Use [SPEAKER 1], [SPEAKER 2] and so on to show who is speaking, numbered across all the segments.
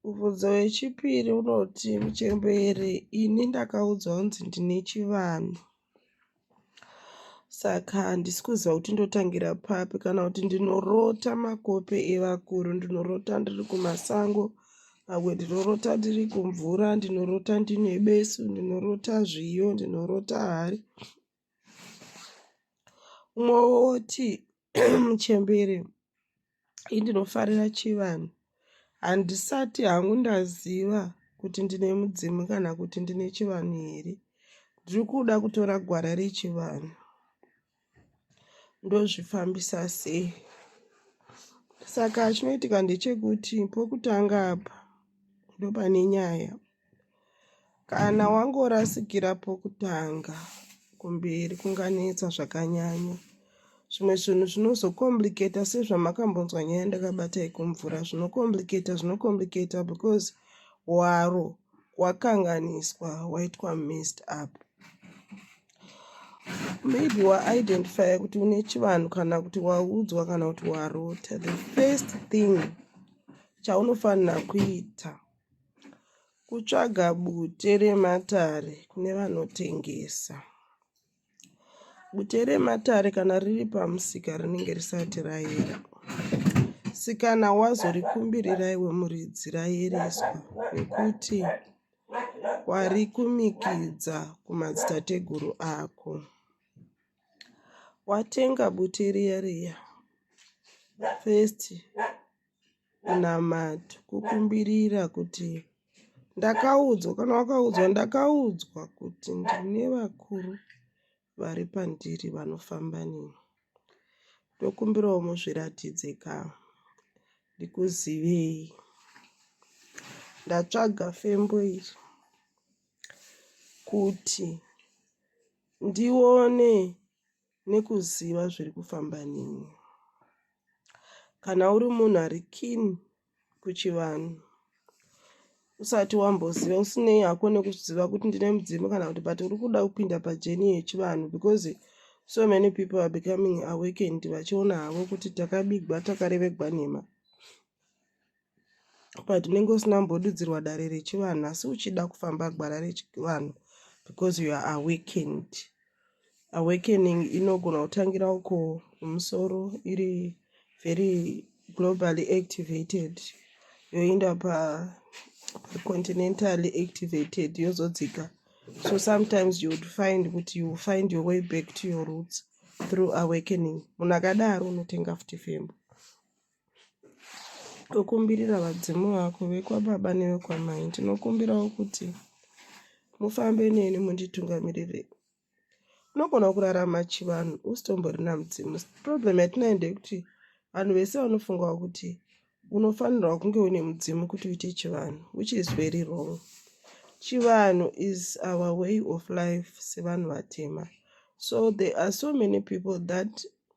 [SPEAKER 1] Mubvunzo wechipiri unoti muchembere ini ndakaudzwa kunzi ndine chivanhu saka handisi kuziva kuti ndotangira papi kana kuti ndinorota makope evakuru ndinorota ndiri kumasango pamwe ndinorota ndiri kumvura ndinorota ndine besu ndinorota zviyo ndinorota hari umwe woti muchembere indinofarira chivanhu handisati hangu ndaziva kuti ndine mudzimu kana kuti ndine chivanhu here ndiri kuda kutora gwara rechivanhu ndozvifambisa sei saka chinoitika ndechekuti pokutanga apa ndopane nyaya Kana wangorasikira pokutanga kumberi kunganetsa zvakanyanya. Zvimwe zvinhu zvinozokomplicata sezvamakambonzwa nyaya ndakabata yekumvura zvinokomplicata zvinokomplicata because waro wakanganiswa waitwa mist up maybe waidentifya kuti une chivanhu kana kuti waudzwa kana kuti warota the first thing chaunofanira kuita Kutsvaga bute rematare kune vanotengesa. Bute rematare kana riri pamusika rinenge risati rayera. Sikana wazorikumbirira iwe muridzi rayereswa nekuti warikumikidza kumadzitateguru ako. Watenga bute riya riya first kunamata kukumbirira kuti ndakaudzwa kana wakaudzwa ndakaudzwa kuti ndine vakuru vari pandiri vanofamba neni ndokumbirawo muzviratidze ka ndikuzivei ndatsvaga fembo iri kuti ndione nekuziva zviri kufamba neni kana uri munhu ari kin kuchivanhu usati wamboziva usinei hako nekuziva kuti ndine mudzimu kana kuti but uri kuda kupinda pajeni yechivanhu because so many people are becoming awakened vachiona havo kuti takabigwa takarevegwa nhema but unenge usina kumbodudzirwa dare rechivanhu asi uchida kufamba gwara rechivanhu because you are awakened awakening inogona kutangira uko mumusoro iri very globally activated yoenda pacontinentally pa activated yozodzika so sometimes you would find kuti you find your way back to your roots through awakening munhu akadaro unotenga futi fembo Tokumbirira vadzimu vako vekwababa nevekwamai ndinokumbirawo kuti mufambe neni munditungamirire unogona kurarama chivanhu usitomborina mudzimu problem yatinayo ndeyekuti vanhu vese vanofungawo kuti unofanirwa kunge une mudzimu kuti uite chivanhu which is very wrong chivanhu is our way of life sevanhu vatema so there are so many people that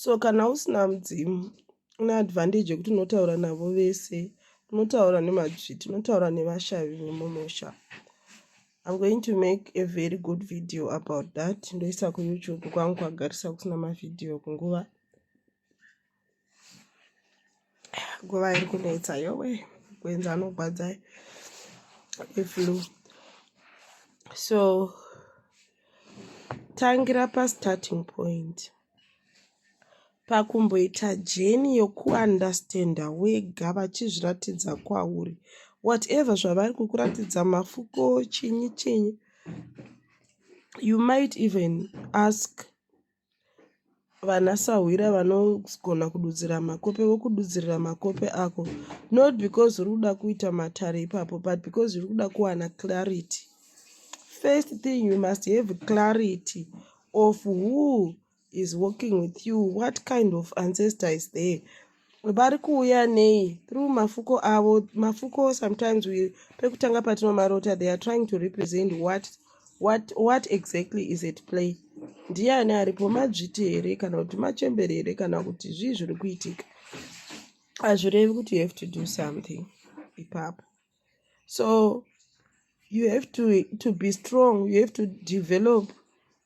[SPEAKER 1] so kana usina mudzimu une advantage yekuti unotaura navo vese unotaura nemadzviti unotaura nevashavi vemumusha i'm going to make a very good video about that ndoisa kuyoutube kwangu kwagarisa kusina mavhidhiyo kunguva nguva iri kunetsa yowe kuenza anogwadza eflu so tangira pastarting point pakumboita jeni yokuundestanda wega vachizviratidza kwauri whatever zvavari kukuratidza mafuko chinyi chinyi you might even ask vanasahwira vanogona kududzira makope vokududzirira makope ako not because uri kuda kuita matare ipapo but because uri kuda kuwana clarity first thing you must have clarity of who is working with you what kind of ancestor is there vari kuuya nei through mafuko avo mafuko sometimes we pekutanga patinomarota they are trying to represent what what what exactly is at play ndiani aripo madzviti here kana kuti machembere here kana kuti zvii zviri kuitika hazvirevi kuti you have to do something ipapo so you have to, to be strong you have to develop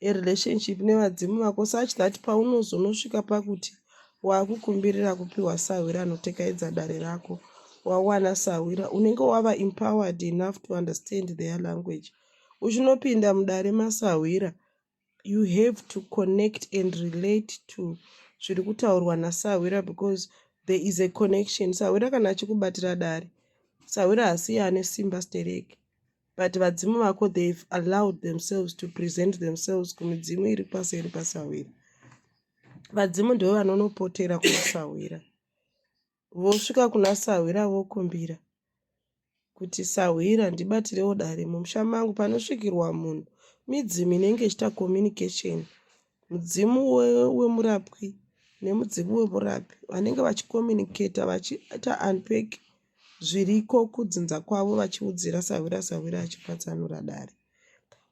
[SPEAKER 1] a relationship nevadzimu vako such that paunozonosvika pakuti waakukumbirira kupiwa sahwira anotekaedza dare rako wawana sahwira unenge wava empowered enough to understand their language uchinopinda mudare masahwira you have to connect and relate to zviri kutaurwa nasahwira because there is a connection sahwira kana achikubatira dare sahwira hasiye ane simba stereki but vadzimu vako they've allowed themselves to present themselves kumidzimu iri pasi iri pasahwira vadzimu ndivo vanonopotera kumasahwira vosvika kuna sahwira vokumbira kuti sahwira ndibatirewo dare mumusha mangu panosvikirwa munhu midzimu inenge ichiita communication mudzimu wemurapwi we nemudzimu wemurapi vanenge vachicommunicata vachiita unpack zviriko kudzinza kwavo vachiudzira sahwira sahwira achipatsanura dare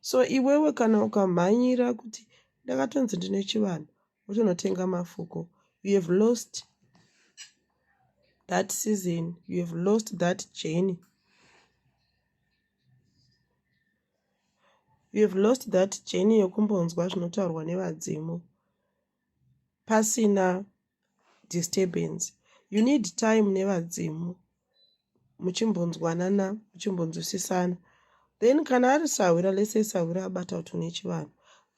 [SPEAKER 1] so iwewe kana ukamhanyira kuti ndakatonzi ndine chivanhu uchinotenga mafuko you have lost that season you have lost that journey you have lost that journey yokumbonzwa zvinotaurwa nevadzimu pasina disturbance you need time nevadzimu muchimbonzwanana muchimbonzwisisana then kana ari sahwira lese sahwira abata kuti une chivanhu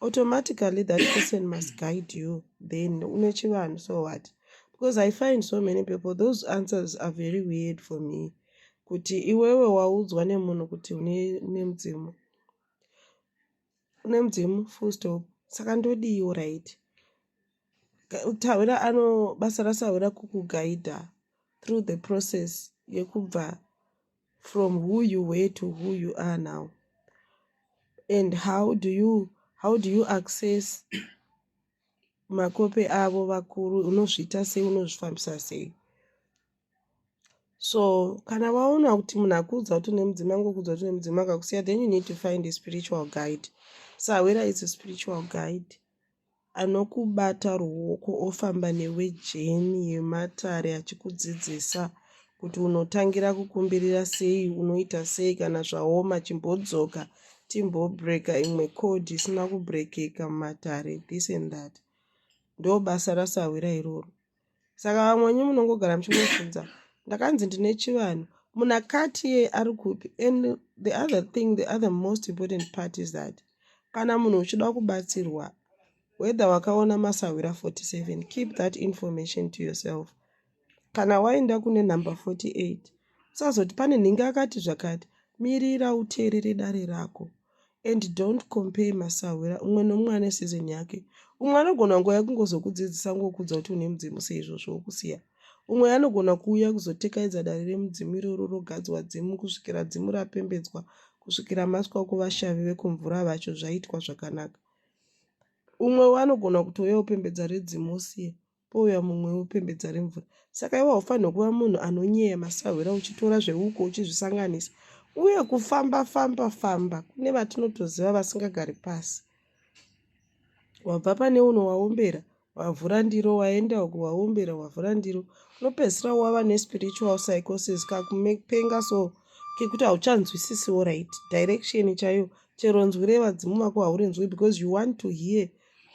[SPEAKER 1] automatically that person must guide you then une chivanhu so what because i find so many people those answers are very weird for me kuti iwewe waudzwa nemunhu kuti une mudzimu une mudzimu full stop saka ndodiiwo right Sahwira ano basa raSahwira kukuguida through the process yekubva from who you were to who you are now and how do you how do you access makope avo vakuru unozviita sei unozvifambisa sei so kana waona kuti munhu akuudza kuti une mudzima ngokuudza kuti une mudzima akakusiya then you need to find a spiritual guide sahwira is a spiritual guide anokubata ruoko ofamba newe jeni yematare achikudzidzisa kuti unotangira kukumbirira sei unoita sei kana zvaoma chimbodzoka timbobreaka imwe code isina kubreakeka mumatare this and that ndobasa rasahwira iroro saka vamwe wenyu munongogara muchingofudza ndakanzi ndine chivanhu munhu akati ye ari kupi and the other thing the other most important part is that kana munhu uchida kubatsirwa whether wakaona masahwira 47 keep that information to yourself kana waenda kune number 48 usazoti pane nhingi akati zvakati mirira uteerere dare rako and don't compare masahwira umwe nomumwe ane season yake umwe anogona nguva yekungozokudzidzisa ngokuudza kuti une mudzimu seizvozvo wokusiya umwe anogona kuuya kuzotekaidza dare remudzimu iroro rogadzwa dzimu kusvikira dzimu rapembedzwa kusvikira maswa kuvashavi vekumvura vacho zvaitwa zvakanaka umwe anogona kutouya upembedza redzimu osiya pouya mumwe wopembedza remvura saka iwe haufanirwe kuva munhu anonyeya masahwira uchitora zveuko uchizvisanganisa uye kufamba famba famba kune vatinotoziva vasingagari pasi wabva pane uno waombera wavhura ndiro waenda uku waombera wavhura ndiro unopedzisira wava nespiritual psychosis kakupenga so kekuti hauchanzwisisiwo right direction chaiyo chero nzwi revadzimu vako haurinzwi because you want to hear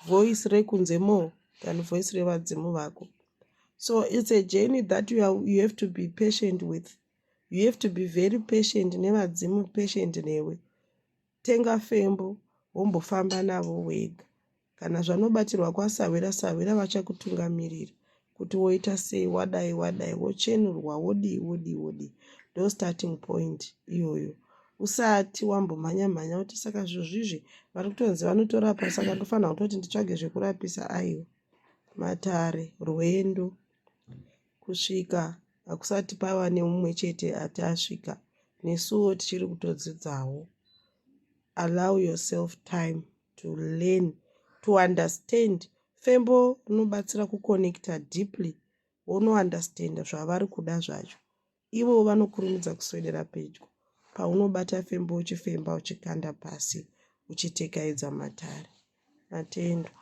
[SPEAKER 1] voice rekunze more than voice revadzimu vako so its a journey that you, are, you have to be patient with you have to be very patient nevadzimu patient newe tenga fembo wombofamba navo wega kana zvanobatirwa kwasahwira sahwira vachakutungamirira kuti woita sei wadai wadai wochenurwa wodii wodii wodii ndo starting point iyoyo usati wambomhanya mhanya kuti saka zviro zvizvi vari kutonzi vanotorapa saka ndofanira kutoti nditsvage zvekurapisa aiwa matare rwendo kusvika hakusati pava neumwe chete ati asvika nesuwo tichiri kutodzidzawo allow yourself time to learn to understand fembo rinobatsira kuconnecta deeply wonounderstanda zvavari kuda zvacho ivo vanokurumidza kuswedera pedyo paunobata fembo uchifemba uchikanda pasi uchitekaidza matare matendwa